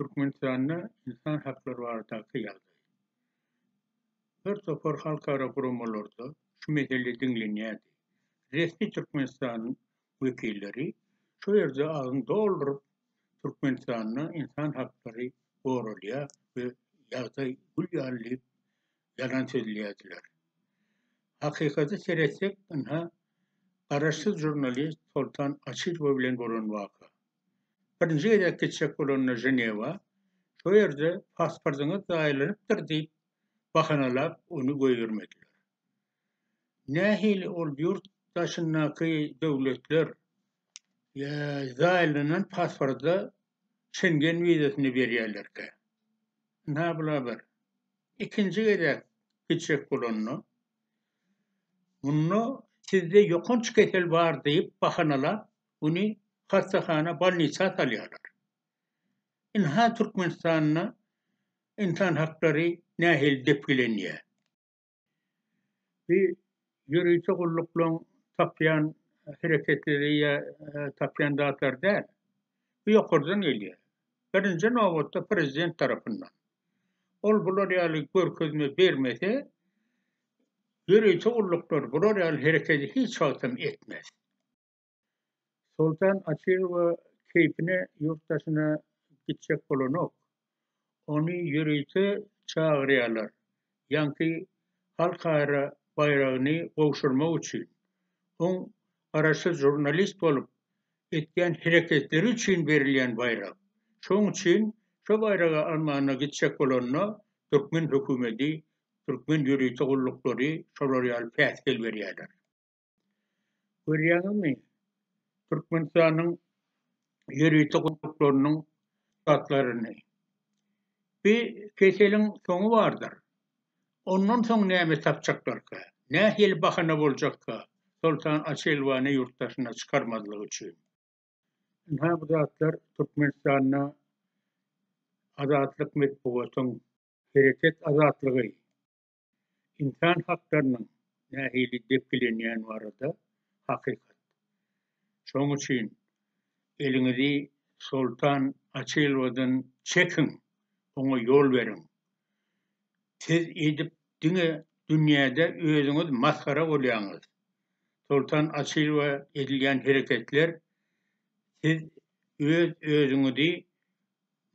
Türkmenistanda ynsan haklary baradaky ýagdaý. Bir topar halkara guramalarda şu mesele diňlenýärdi. Resmi Türkmenistan wekilleri şo ýerde agyň dolduryp, Türkmenistanda ynsan haklary goralýar we ýagdaý gül ýaly diýip, ýalan sözleýärdiler. Hakykata seretsek, ynha, garaşsyz žurnalist Soltan Açylowa bilen bolan waka. Birinji gezek gitjek bolanda Ženewa, şo ýerde pasportyňyz zaýalanypdyr diýip bahanalap ony goýbermediler. Nähili ol ýurt daşyndaky döwletler zaýalanan pasporta Şengen wizasyny berýärlerkä? Ynha bul habar. Ikinji gezek gitjek bolanda munda sizde ýokanç kesel bar diýip bahanalap Ony hassahana, bolnisa salýarlar. Ynha Türkmenistanda ynsan haklary nähili depgilenýär? Bu ýörite gulluklaryň tapýan hereketleri ýa tapýan zatlary däl. Bu ýokardan gelýär. Birinji nobatda prezident tarapyndan. Ol bular ýaly görkezme bermese, ýörite gulluklar bular ýaly hereketi hiç wagtam etmez. Soltan Açylowa keýpine ýurt daşyna gitjek bolanok. Ony ýörite çagyrýarlar, ýaňky halkara baýragyny gowşurmak üçin. Oň garaşsyz žurnalist bolup etýän hereketleri üçin berilýän baýrak. Şoň üçin şo baýragy almana gitjek bolanda türkmen hökümeti, türkmen ýörite gulluklary şolar ýaly päsgel berýärler. Görýäňizmi, Türkmenistanyň ýörite gudaklarynyň zatlaryny. Bir keseliň soňy bardyr. Ondan soň näme tapjaklarka, nähili bahana boljakka Soltan Açelwany ýurt daşyna çykarmazlyk üçin? Ynha, bu zatlar Türkmenistanda azatlyk metbugatyň, hereket azatlygy, Ynsan haklarynyň nähili depgilenýäni barada hakykat. Şonuň üçin eliňizi Soltan Açylowadan çekiň, oňa ýol beriň. Siz eýdip diňe dünýäde özüňiz masgara bolýaňyz. Soltan Açylowa edilýän hereketler siz öz özüňizi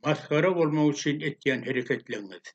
masgara bolmak üçin etýän hereketleňiz.